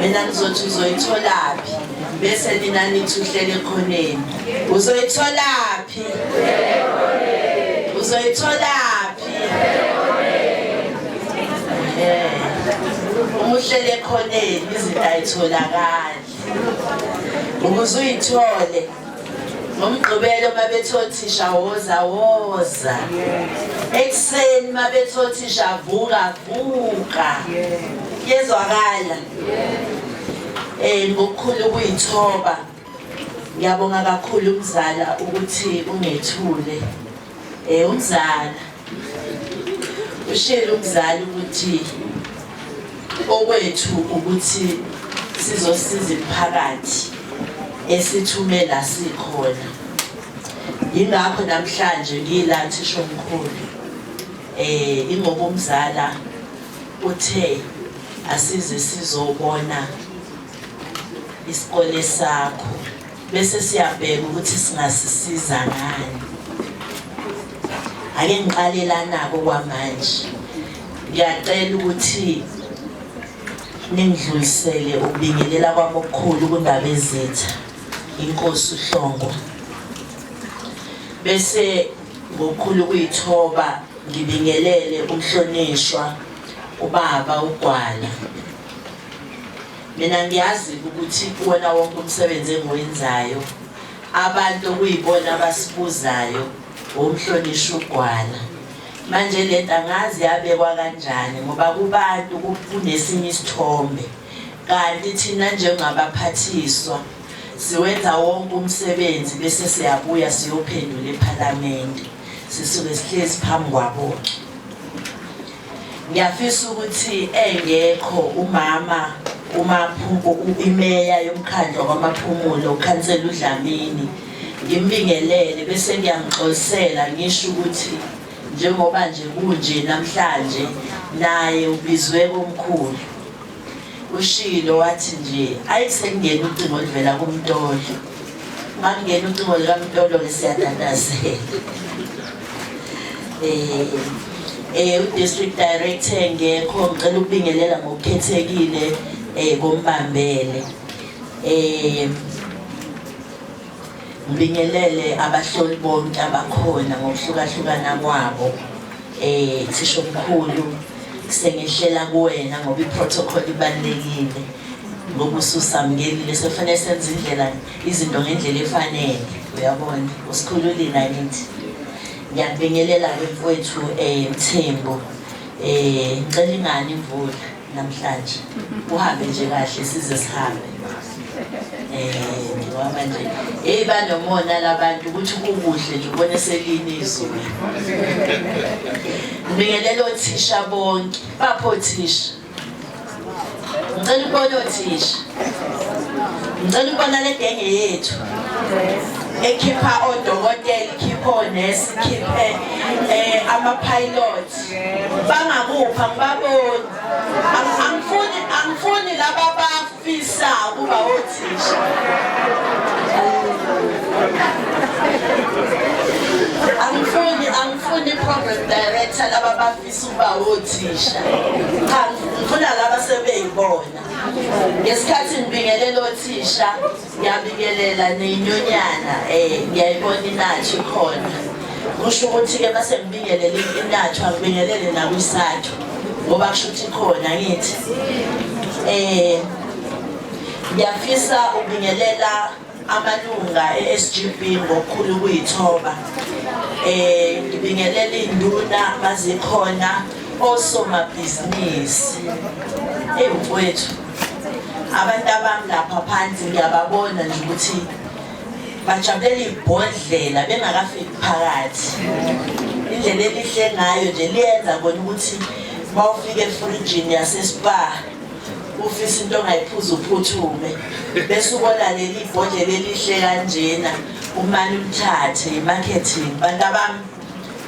mina ngizothi uzoyitholaphi bese nina nithi uhlele ekhoneni uzoyitholaphi uzoyitholaphi uma uhlele ekhoneni izinto ayitholakali ukuze uyithole ngomgqibelo babethi othisha woza woza ekuseni babethi othisha vuka vuka yezwakala eh ngokukhulu kuyithoba ngiyabonga kakhulu umzala ukuthi ungethule Eh umzala ushele umzali ukuthi okwethu ukuthi sizosiza imphakathi esithumela sikhona yingakho namhlanje ngila thisho mkhulu eh ingoba umzala uthe asize sizobona isikole sakho bese siyabheka ukuthi singasisiza ngani ake ngiqale lanako kwamanje ngiyacela ukuthi ningidlulisele ukubingelela kwami okukhulu kundaba ezitha inkosi uhlongwa bese ngokukhulu kuyithoba ngibingelele umhlonishwa ubaba ugwala Mina ngiyazi ukuthi kuwona wonke umsebenzi engiwenzayo abantu okuyibona abasibuzayo womhlonishwa ugwala manje le nto angazi yabekwa kanjani ngoba kubantu kunesinye isithombe kanti thina njengabaphathiswa siwenza wonke umsebenzi bese siyabuya siyophendula ephalamende sisuke sihlezi phambi kwabo Ngiyafisa ukuthi engekho umama umaphuko imeya yomkhandlu wamaphumulo ukhansela uDlamini ngimbingelele bese ngiyamxolisela ngisho ukuthi njengoba nje kunje namhlanje naye ubizwe komkhulu Ushilo wathi nje ayi sekungena ucingo oluvela kumtolo. Makungena ucingo likamtolo ke siyatatazela. Eh eh udistrict director ngekho ngicela ukubingelela ngokukhethekile eh kombambele. Eh Ngibingelele abahloli bonke abakhona ngokuhlukahlukana kwabo eh thisha omkhulu sengehlela kuwena ngoba iprotocol ibalekile ngokususamngelile sofanele senze indlela izinto ngendlela efanele uyabona usikhululi nakithi ngiyabingelela ke mfowethu eh Mthembu eh ngicela ingane imvula namhlanje uhambe nje kahle size sihambe um ngoba manje heyi banomona labantu ukuthi kukuhle nje ubone selini izulu ngibingelela othisha bonke baphi othisha ngicela ukubona othisha ngicela ukubona le genge yethu ekhipha odokotela ikhipha onesi ikhiphe um eh, ama-pilot bangakupha ngibaboni angifuni angifuni laba bafisa ukuba othisha angifuni angifuni program director laba bafisa ukuba othisha cha ngifuna laba sebeyibona ngesikhathi ngibingelela othisha Ngiyabikelela niyinyonyana eh ngiyayibona inathu khona. Kusho ukuthi ke base ngibingelele inathu akubingelele nakwisathu ngoba kusho ukuthi khona ngithi. Eh ngiyafisa ubingelela amalunga e-SGB ngokukhulu kuyithoba. Eh ngibingelela induna mazikhona osomabhizinisi. Ewu mfowethu abantu abami lapha phansi ngiyababona nje ukuthi bajabulela ibhodlela bengakafiki phakathi indlela elihle ngayo nje liyenza kona ukuthi uma ufika efrijini yasespa ufisa into ongayiphuza uphuthume bese ubona leli bhodlela elihle kanjena umane umthathe i-marketing bantu abami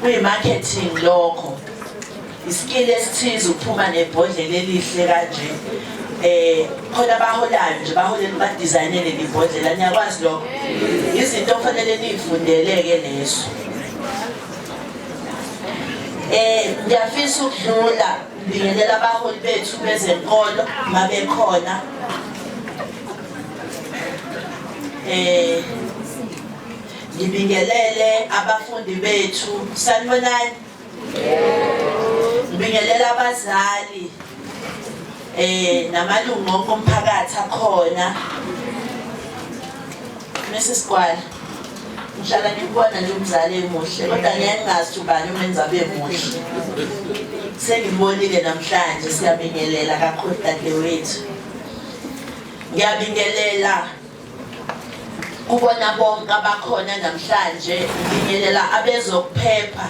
kuyi-marketing lokho isikili esithize ukuphuma nebhodlela elihle kanje eh khona abaholayo nje baholele badesignele libhodlela niyakwazi lokho izinto okufanele nifundeleke lezo eh ngiyafisa ukudlula ngibingelela abaholi bethu bezenkolo mabekhona eh ngibingelele abafundi bethu sanibonani Ngibingelela abazali eh namalungu onke omphakathi akhona. Mrs. Kwala ngihlala ngikubona nje umzali emuhle kodwa ngeke ngazi ubani umenza abe muhle sengibonile namhlanje siyabingelela kakhulu dadewethu ngiyabingelela kubona bonke abakhona namhlanje ngibingelela abezokuphepha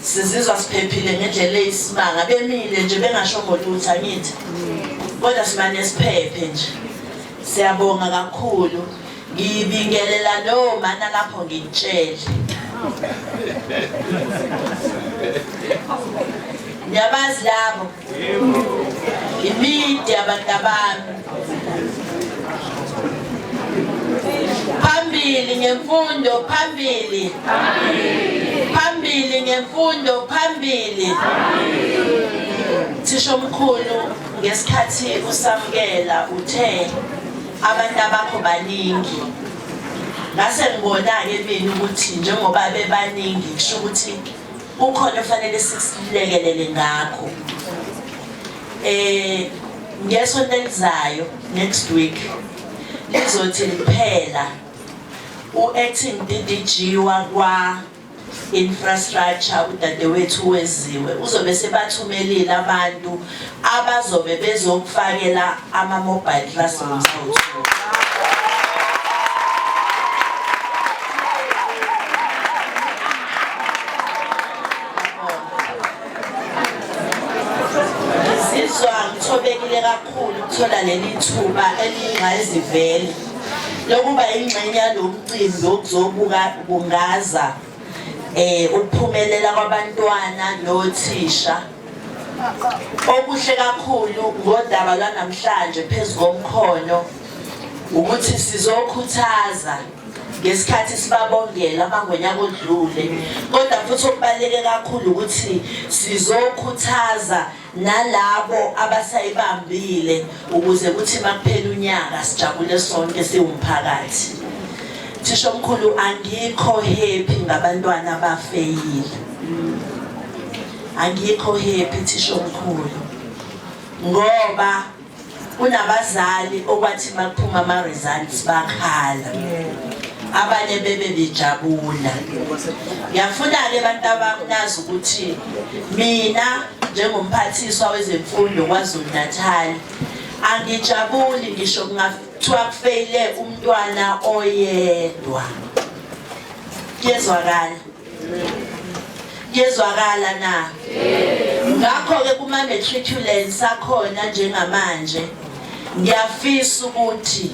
sizizwa siphephile ngendlela eyisimanga bemile nje bengasho ngolutho angithi kodwa simane siphephe nje siyabonga kakhulu ngibingelela no mana lapho ngitshele ngiyabazi labo Imidi abantabami phambili ngemfundo phambili phambili ngemfundo phambili thisha omkhulu ngesikhathi usamukela uthe abantu abakho baningi ngase ngibona-ke mina ukuthi njengoba bebaningi kusho ukuthi kukhona fanele sikulekelele ngakho eh ngesonto elizayo next week lizothi liphela u-acting DDG wakwa infrastructure udadewethu weziwe uzobe sebathumelile abantu abazobe bezokufakela ama-mobile classrooms awuthuka ngithobekile kakhulu ukuthola leli thuba eliyingqayizivele lokuba ingxenye yalo mcimbi wokuzobuka bungaza um ukuphumelela kwabantwana nothisha Okuhle kakhulu ngodaba lwanamhlanje phezu komkhono ukuthi sizokhuthaza ngesikhathi sibabongela amangonyaka odlule kodwa futhi okubaluleke kakhulu ukuthi sizokhuthaza nalabo abasayibambile ukuze kuthi makuphela unyaka sijabule sonke siwumphakathi thisho mkhulu angikho happy ngabantwana abafeyile Angikho happy thishomkhulu ngoba kunabazali okwathi makuphuma ama results bakhala abanye bebe bejabula ngiyafuna ke abantu abakunazi ukuthi mina njengomphathiswa wezemfundo kwaZulu Natal angijabuli ngisho kungathiwa kufeyile umntwana oyedwa kuyezwakala Yezwakala na? Ngakho-ke kuma-matriculate sakhona njengamanje ngiyafisa ukuthi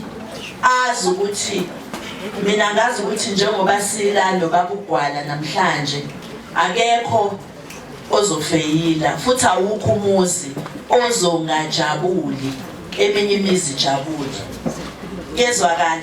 azi ukuthi mina ngazi ukuthi njengoba sila nobaba ugwala namhlanje akekho ozofeyila futhi awukho umuzi ozongajabuli eminye imizi ijabule yezwakala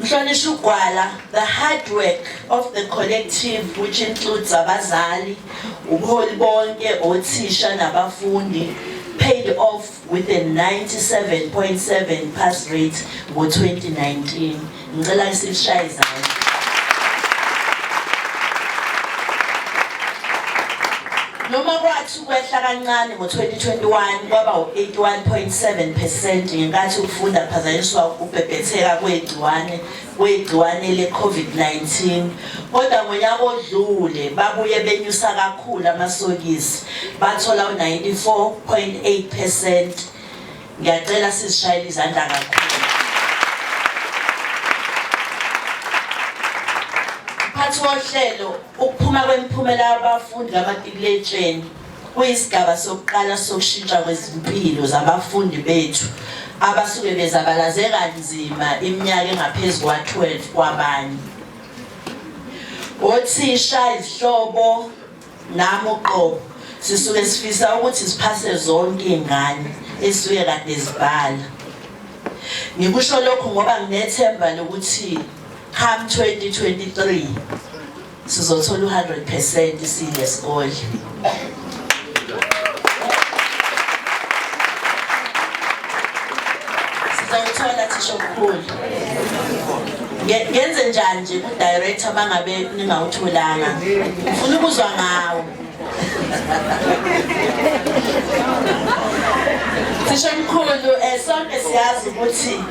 Mhlonishwa uGwala, the hard work of the collective which includes abazali, ubuholi bonke, othisha nabafundi paid off with a 97.7 pass rate ngo-2019. Ngicela ngisishaye izandla. Noma kwathi kwehla kancane ngo-2021 kwaba u-81.7 percent ngenkathi ukufunda kuphazanyiswa ukubhebhetheka kwegciwane kwegciwane le-COVID-19 kodwa ngonyaka odlule babuye benyusa kakhulu amasokisi bathola u-94.8 percent ngiyacela sizishayele izandla kakhulu mphathi wohlelo Ukuphuma kwemiphumela yabafundi kamatikuletsheni kuyisigaba sokuqala sokushintsha kwezimpilo zabafundi bethu abasuke bezabalaze kanzima iminyaka engaphezu kwa-12 kwabanye othisha izihlobo nami uqobo sisuke sifisa ukuthi siphase zonke iy'ngane esuke kade zibhala ngikusho lokhu ngoba nginethemba lokuthi Come 2023 sizothola u100 percent sile sikole. Sizothola thisho mkhulu. Ngenze njani nje ku director bangabe ningawutholanga. Ufuna ukuzwa ngawo. Sishemkhulu eh sonke siyazi ukuthi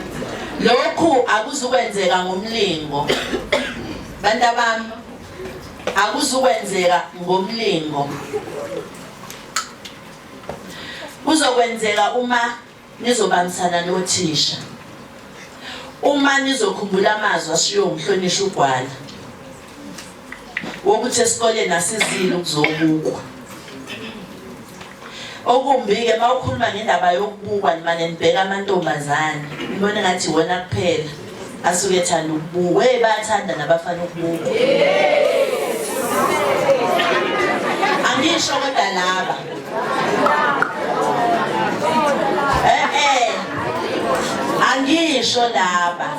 lokhu akuzukwenzeka ngomlingo. Bantu abami akuzukwenzeka ngomlingo. Kuzokwenzeka uma Nizobangisana nothisha uma nizokhumbula amazwi ashiwo umhlonishwa uGwala wokuthi esikoleni asizile ukuzobukwa. Okumbi-ke uma ukhuluma ngendaba yokubukwa nimane nibheka amantombazane nibone ngathi iwona kuphela. Asuke ethanda ukubuka. Wey bayathanda nabafana ukubuka. Angisho kodwa laba. Eh eh. Angisho laba.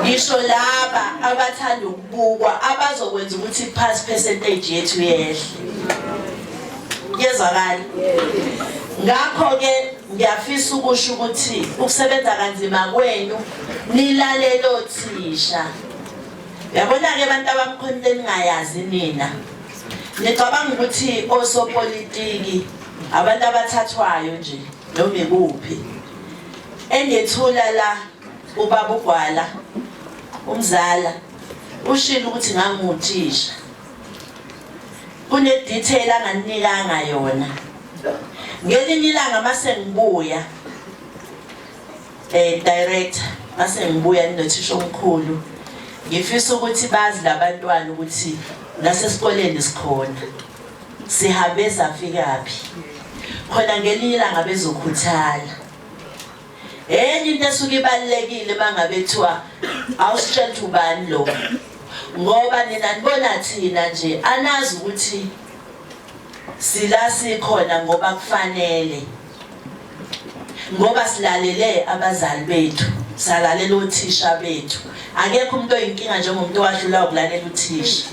Ngisho laba abathanda ukubukwa abazokwenza ukuthi pass percentage yethu yehle. Yezwakala. Ngakho ke Ngiyafisa ukusho ukuthi ukusebenza kanzima kwenu nilalele othisha. Yabona-ke abantu abakhona into eningayazi nina. Nicabanga ukuthi osopolitiki abantu abathathwayo nje noma ikuphi. Engethula la ubaba uGwala umzala ushilo ukuthi nganguthisha. kune detail anganinikanga yona ngelinye ilanga mase ngibuya eh director mase ngibuya ninothisha omkhulu ngifisa ukuthi bazi labantwana ukuthi nasesikoleni sikhona sihambe safikaphi khona ngelinye ilanga bezokhuthala enye into esuke ibalulekile bangabethiwa awusitshela ukuthi ubani lo ngoba nina nibona thina nje anazi ukuthi sila sikhona ngoba kufanele ngoba silalele abazali bethu salalela othisha bethu akekho umuntu oyinkinga njengomuntu owadlula ukulalela uthisha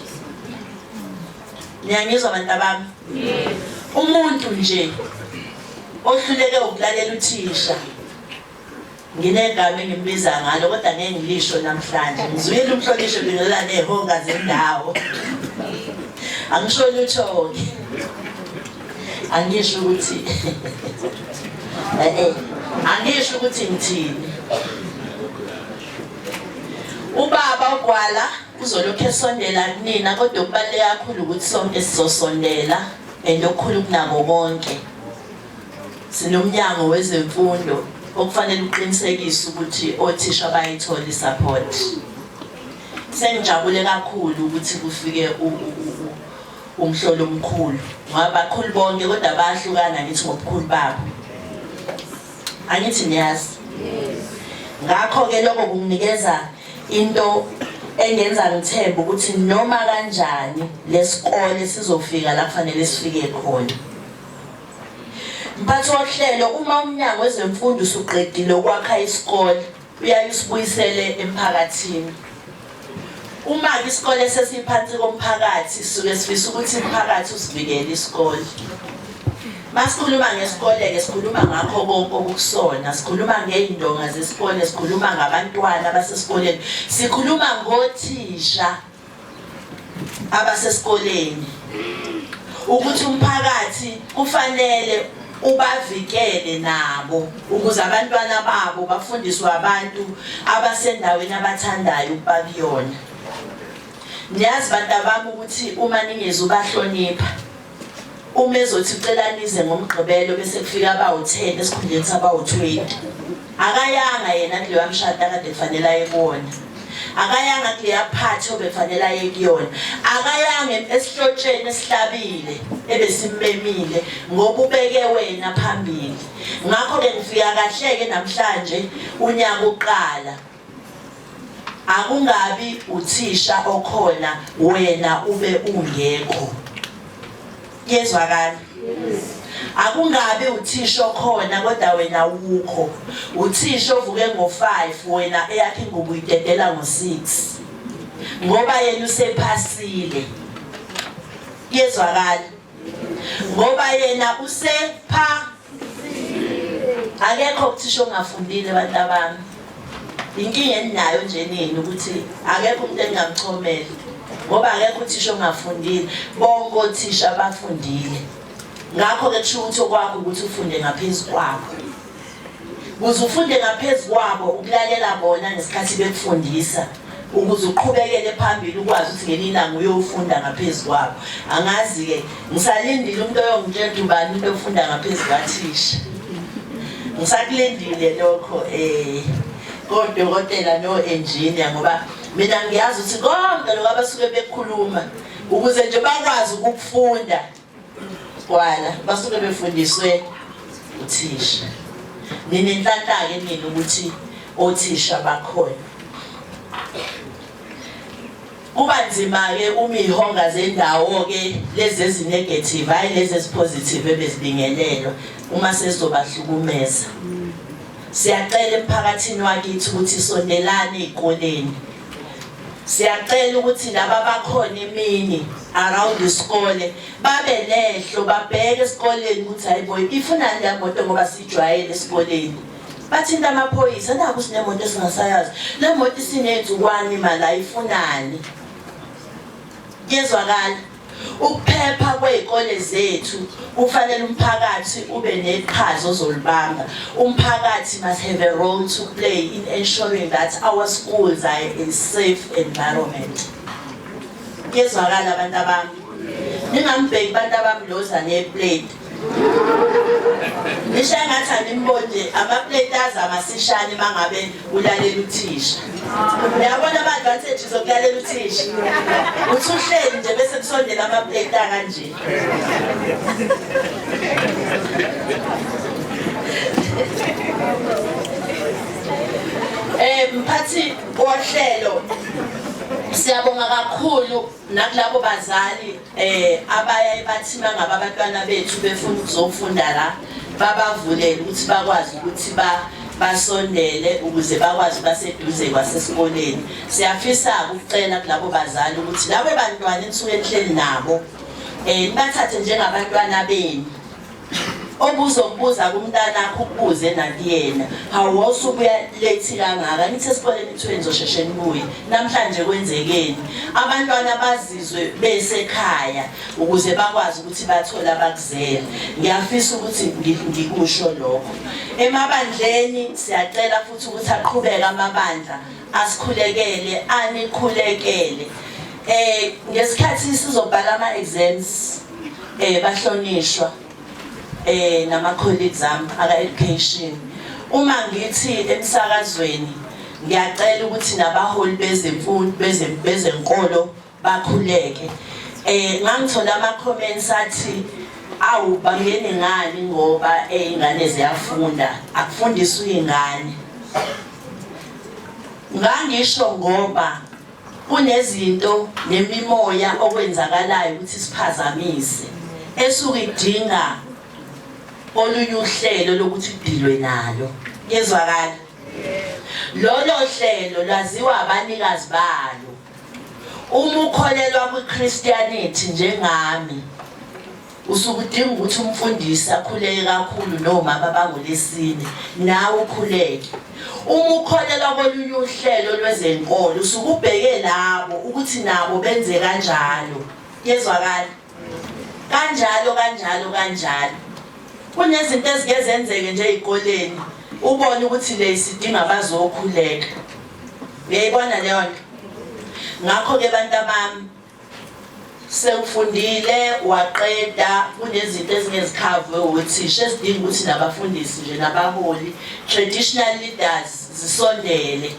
niyangizwa bantabami umuntu nje ohluleke ukulalela uthisha nginegama engimbiza ngalo kodwa ngeke ngilisho namhlanje ngizwile umhlonishwe bingelela nehonga zendawo angisho lutho-ke angisho ukuthi eh, eh, angisho ukuthi ngithini ubaba ugwala Uzolokhu esondela kunina kodwa okubaluleke kakhulu ukuthi sonke sizosondela and okukhulu kunako konke. Sinomnyango wezemfundo okufanele uqinisekise ukuthi othisha bayithola i-support. Sengijabule kakhulu ukuthi kufike umhlolo omkhulu ngoba bakhulu bonke kodwa bayahlukana ngithi ngobukhulu babo. Angithi niyazi? Ngakho-ke lokho kunginikeza Into engenza ngithembe ukuthi noma kanjani lesikole sizofika la kufanele sifike khona. Mphathi wohlelo uma umnyango wezemfundo usuqedile ukwakha isikole uyaye usibuyisele emphakathini. Uma ke isikole sesiphansi komphakathi suke sifisa ukuthi umphakathi usivikele isikole. Masikhuluma ngesikole-ke sikhuluma ngakho konke okukusona, sikhuluma ngey'ndonga zesikole, sikhuluma ngabantwana abasesikoleni, sikhuluma ngothisha abasesikoleni ukuthi umphakathi kufanele ubavikele nabo ukuze abantwana babo bafundiswe abantu abasendaweni abathandayo ukuba kuyona. Niyazi bantabami ukuthi uma ningezubahlonipha Uma ezothi ucela nize ngomgqibelo bese kufika abawu-10 esikhundleni sabawu-20. Akayanga yena kuleya mshado akade kufanele aye kuwona. Akayanga kuleya phathi obefanele aye kuyona. Akayanga esihlotsheni esihlabile ebesimmemile ngoba ubeke wena phambili. Ngakho-ke ngifika kahle-ke namhlanje unyaka uqala. Akungabi uthisha okhona wena ube ungekho. Yezwakala? Yes. akungabi uthisha okhona kodwa wena ukho uthisha ovuke ngo5 wena eyakhe ingubo idedela ngo6 ngoba yena usephasile yezwakala ngoba yena usepha akekho ukuthisha ongafundile abantu abami inkinga eninayo nje nini ukuthi akekho umuntu engingamchomela ngoba akekho uthisha ongafundile bonke othisha bafundile ngakho-ke kusho ukuthi okwakho ukuthi ufunde ngaphezu kwakho Kuze ufunde ngaphezu kwabo ukulalela bona ngesikhathi bekufundisa ukuze uqhubekele phambili ukwazi ukuthi ngelinye ilanga uyofunda ngaphezu kwabo angazi-ke ngisalindile umuntu oyongitshela ukuthi ubani umuntu ofunda ngaphezu kwathisha ngisakulindile lokho um kodokotela no-engineer ngoba mina ngiyazi ukuthi konke lokho abasuke bekhuluma ukuze nje bakwazi ukufunda Gwala basuke befundiswe uthisha. Nina inhlanhlake nina ukuthi othisha bakhona. Kuba nzima ke uma ihonga zendawo ke lezi ezinegative hayi lezi ezipositive ebezibingelelwa uma sesizobahlukumeza. Siyacela emphakathini wakithi ukuthi sondelane ezikoleni siyacela ukuthi laba bakhona imini around isikole babe nehlo babheke esikoleni ukuthi hayibo ifunani le moto ngoba sijwayele esikoleni bathinta amaphoyisa naku sinemoto esingasayazi le moto isiney'nzukwane imali ayifunani kuyezwakala Ukuphepha kwezikole zethu kufanele umphakathi ube neqhaza ozolibamba. Umphakathi must have a role to play in ensuring that our schools are in safe environment. Yezwakala abantu abami. Ningambheki abantu abami loza ne plate. ngisho engathi animboni nje amapleti azama sishane uma ngabe ulalela uthisha uyabona ama-advantages okulalela uthisha uthi uhleli nje bese kusondela amapleti akanje um mphathi wohlelo siyabonga kakhulu nakulabo bazali eh abayaye bathi mangaba abantwana bethu befuna ukuzofunda la babavulele ukuthi bakwazi ukuthi ba basondele ukuze bakwazi baseduze kwasesikoleni siyafisa ukucela kulabo bazali ukuthi labo bantwana enisuke nihleli nabo eh nibathathe njengabantwana benu obuzokubuza kumntanakho ukubuze nakuyena hawu wawusubuya late kangaka nithi esikoleni kuthiwe nizosheshe nibuye namhlanje kwenzekeni abantwana bazizwe besekhaya ukuze bakwazi ukuthi bathole abakuzele ngiyafisa ukuthi ngikusho lokho emabandleni siyacela futhi ukuthi aqhubeke amabandla asikhulekele anikhulekele eh ngesikhathi sizobhala ama exams eh bahlonishwa eh nama colleagues am aka education uma ngithi emsakazweni ngiyacela ukuthi nabaholi bezemfundo bezenkolo bakhuleke eh ngangithola ama comments athi awu bangene ngani ngoba izingane ziyafunda akufundisa uyingane ngangisho ngoba kunezinto nemimoya okwenzakalayo ukuthi siphazamise esuke idinga olunye uhlelo lokuthi kudilwe nalo yezwakala lolo hlelo laziwa abanikazi balo Uma ukholelwa kwiChristianity njengami usuke udinga ukuthi umfundisi akhuleke kakhulu nomama bangolesine nawe ukhuleke uma ukholelwa kolunye uhlelo lwezenkolo usuke ubheke labo ukuthi nabo benze kanjalo yezwakala kanjalo kanjalo kanjalo kunezinto ezike zenzeke nje ezikoleni ubone ukuthi le isidinga bazokhuleka uyayibona leyo nto ngakho ke bantu abami sewufundile waqeda kunezinto ezingezikhavwe wothisha esidinga ukuthi nabafundisi nje nabaholi traditional leaders zisondele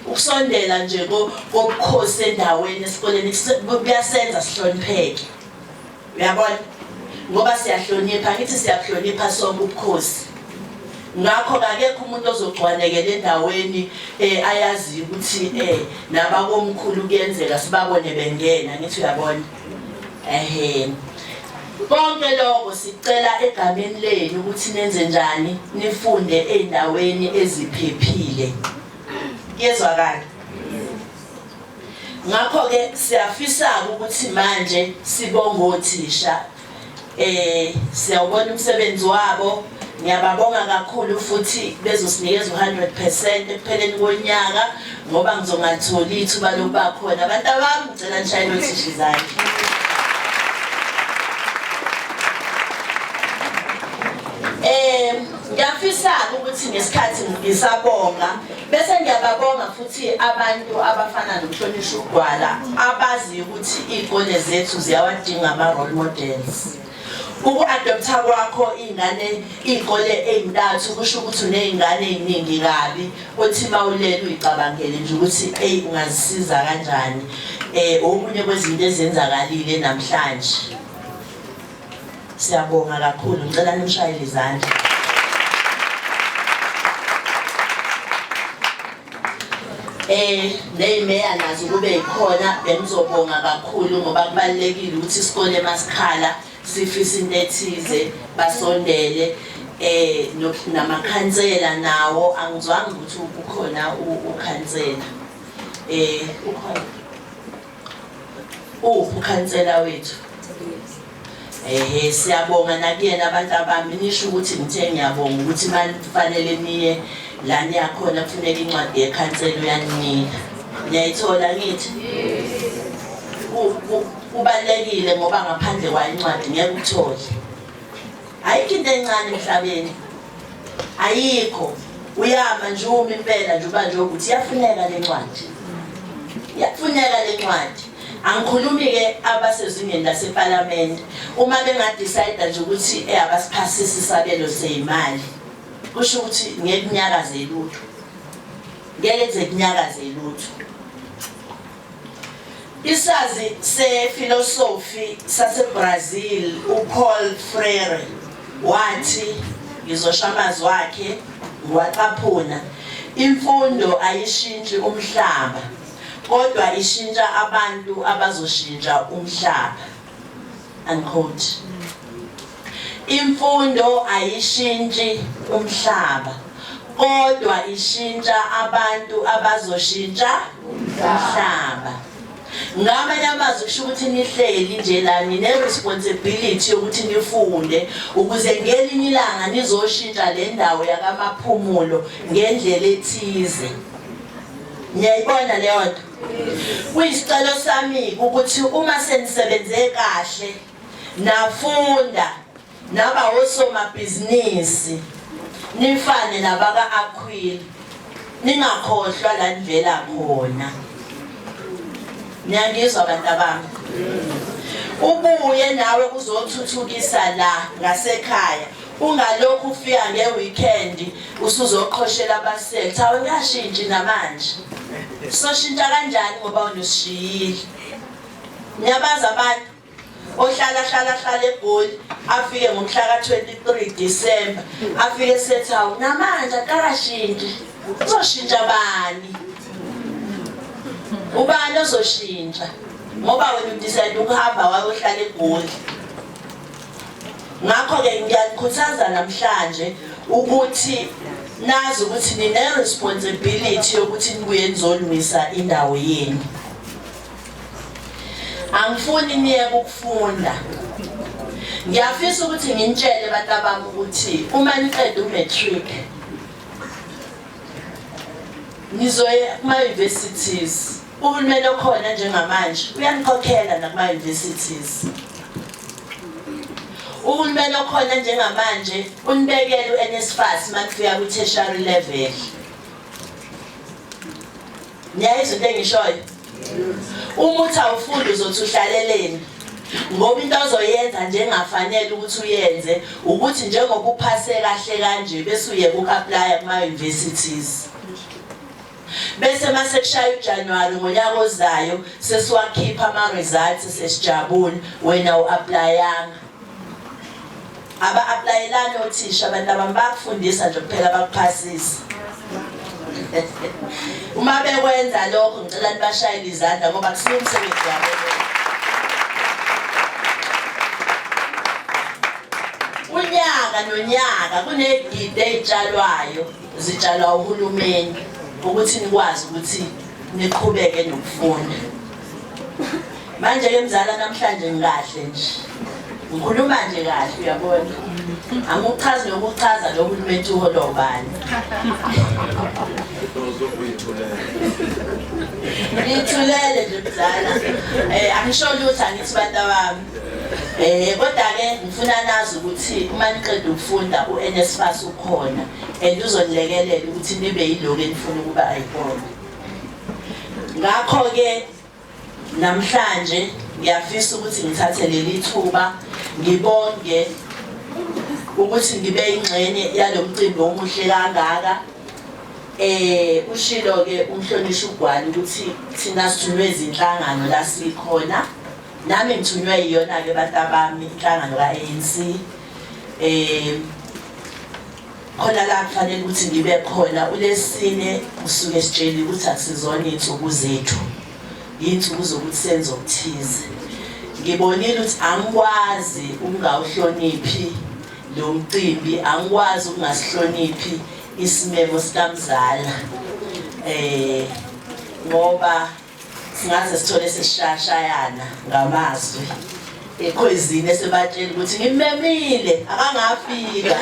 Ukusondela nje kobukhosi endaweni esikoleni kuyasenza sihlonipheke. Uyabona? Ngoba siyahlonipha, ngithi siyahlonipha sonke ubukhosi. Ngakho kakekho umuntu ozogcwanekela endaweni eh ayazi ukuthi eh nabakomkhulu kuyenzeka sibabone bengena, ngithi uyabona. Ehhe. Konke lokho sicela egameni lenu ukuthi nenze njani, nifunde endaweni eziphephile. Yezwakala. Ngakho ke siyafisa ukuthi manje sibonge othisha eh siyawubona umsebenzi wabo ngiyababonga kakhulu futhi bezosinikeza u100% ekupheleni konyaka ngoba ngizongatholi ithuba lokuba khona abantu abami ngicela nishayele othisha izandla Ngiyafisa-ke ukuthi ngesikhathi ngisabonga bese ngiyababonga futhi abantu abafana noMhlonishwa uGwala abaziyo ukuthi iy'kole zethu ziyawadinga ama-role models uku-adoptha kwakho iy'ngane iy'kole ey'ntathu kusho ukuthi uney'ngane ey'ningi kabi othi uma ulele uyicabangele nje ukuthi eyi ungazisiza kanjani um okunye kwezinto ezenzakalile namhlanje Siyabonga kakhulu, ngicela nimshayele izandla. Eh nezimeya nazo kube yikhona bengizobonga kakhulu ngoba kubalekile ukuthi isikole masikhala sifisa into ethize basondele eh namakhansela nawo angizwanga ukuthi ukhona ukhansela eh ukhona Uphi ukhansela wethu? Ehe siyabonga nakuyena abantu abami nisho ukuthi ngithe ngiyabonga ukuthi manje kufanele niye la niyakhona kufuneka incwadi yekhansela uyaninika. Niyayithola ngithi? Ku- ku- Kubalekile ngoba ngaphandle kwayo incwadi ngeke uthole. ayikho into encane emhlabeni ayikho uyama nje uma impela nje uba nje ukuthi iyafuneka le ncwadi iyafuneka le ncwadi angikhulumi-ke abasezingeni lasepalamende uma bengadicida nje ukuthi eh, abasiphasisi isabelo seyimali kusho ukuthi ngeke kunyakaze lutho ngeke kuze kunyakaze lutho Isazi sefilosofi saseBrazil uPaul Freire wathi ngizosha amazwi wakhe ngiwacaphuna imfundo ayishintshi umhlaba kodwa ishintsha abantu abazoshintsha umhlaba Unquote. Imfundo ayishintshi umhlaba kodwa ishintsha abantu abazoshintsha umhlaba. Ngamanye amazwi kusho ukuthi nihleli nje la nine responsibility yokuthi nifunde ukuze ngelinye ilanga nizoshintsha le ndawo yakamaphumulo ngendlela ethize. Niyayibona leyo nto? Kuyisicelo sami ukuthi uma senisebenze kahle nafunda naba osomabhizinisi nifane nabaka Aquil ningakhohlwa la nivela khona niyangizwa bantu abami ubuye nawe kuzothuthukisa la ngasekhaya Ungalokhu ufika ngeweekend usuzoqhoshela abasethi awuyashintshi namanje. Soshintsha kanjani ngoba unosishiyile. Ngiyabaza abantu ohlala hlala hlala egoli afike ngomhla ka-23 December afike sethi hawu namanje akakashintshi uzoshintsha bani ubani ozoshintsha ngoba wena udecide ukuhamba wayohlala egoli ngakho-ke ngiyanikhuthaza namhlanje ukuthi nazi ukuthi nine-responsibility yokuthi nibuye nizolungisa indawo yenu angifuni niyeke ukufunda ngiyafisa ukuthi nginitshele abantu abami ukuthi uma niqeda umatric nizoye kuma-universities Uhulumeni okhona njengamanje uyanikhokhela nakuma-universities. Uhulumeni okhona njengamanje unibekela u-NSFAS uma kufika kwi-tertiary level. Niyayizwa into engishoyo? Uma uthi awufundi uzothi uhlaleleni ngoba into ozoyenza njengafanele ukuthi uyenze ukuthi njengoba uphase kahle kanje bese uyeka uku-aplaya kuma-universities. Bese mase kushaya uJanuary ngonyaka ozayo sesiwakhipha ama results sesijabule wena uapplyanga. Aba applyelani othisha abantu abami bakufundisa nje kuphela bakuphasisa. Uma bekwenza lokho ngicela nibashayele izandla ngoba kusiyo umsebenzi wabo. Unyaka nonyaka kunegidi ezitshalwayo zitshalwa uhulumeni ukuthi nikwazi ukuthi niqhubeke nokufunda manje ke mzala namhlanje ngikahle nje ngikhuluma nje kahle uyabona angichazi nokuchaza lo hulumeni uholo ubani ngithulele nje mzala um angisholo ukuthi angithi bantu abami Eh kodwa-ke ngifuna nazi ukuthi uma niqeda ukufunda u-NSFAS ukhona and uzonilekelela ukuthi nibe yiloko enifuna ukuba ayikona. Ngakho-ke namhlanje ngiyafisa ukuthi ngithathe leli thuba ngibonge ukuthi ngibe ingxenye yalo mcimbi omuhle kangaka eh ushilo ke umhlonishwa ugwala ukuthi thina sithunywe izinhlangano la sikhona Nami ngithunywe iyona-ke bantabami inhlangano ka-ANC um eh, khona la kufanele ukuthi ngibe khona ulesine usuke sitsheli ukuthi akusizona iy'nsuku zethu yiy'nsuku zokuthi senze okuthize ngibonile ukuthi angikwazi ukungawuhloniphi lo mcimbi angikwazi ukungasihloniphi isimemo sikamzala um ngoba singaze sithole sishashayana ngamazwi ekhwezini esebatshela ukuthi ngimemile akangafika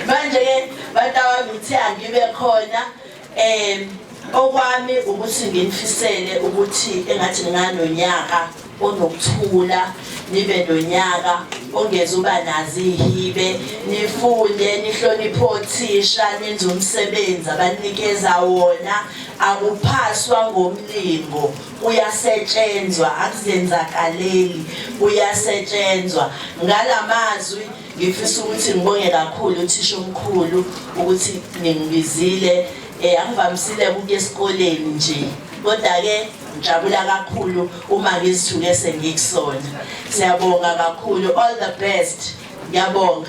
manje-ke batawami ngithe angibe khona um okwami ukuthi nginifisele ukuthi engathi nginganonyaka onokuthula nibe nonyaka ongeze uba nazi ihibe nifunde nihloniphe othisha nenze umsebenzi abanikeza wona akuphaswa ngomlingo kuyasetshenzwa akuzenzakaleli kuyasetshenzwa ngalamazwi ngifisa ukuthi ngibonge kakhulu uthisha omkhulu ukuthi ningibizile eh angivamisile ukuya esikoleni nje kodwa ke Ngijabula kakhulu uma ngizithuke sengikusona. Siyabonga kakhulu. All the best. Ngiyabonga.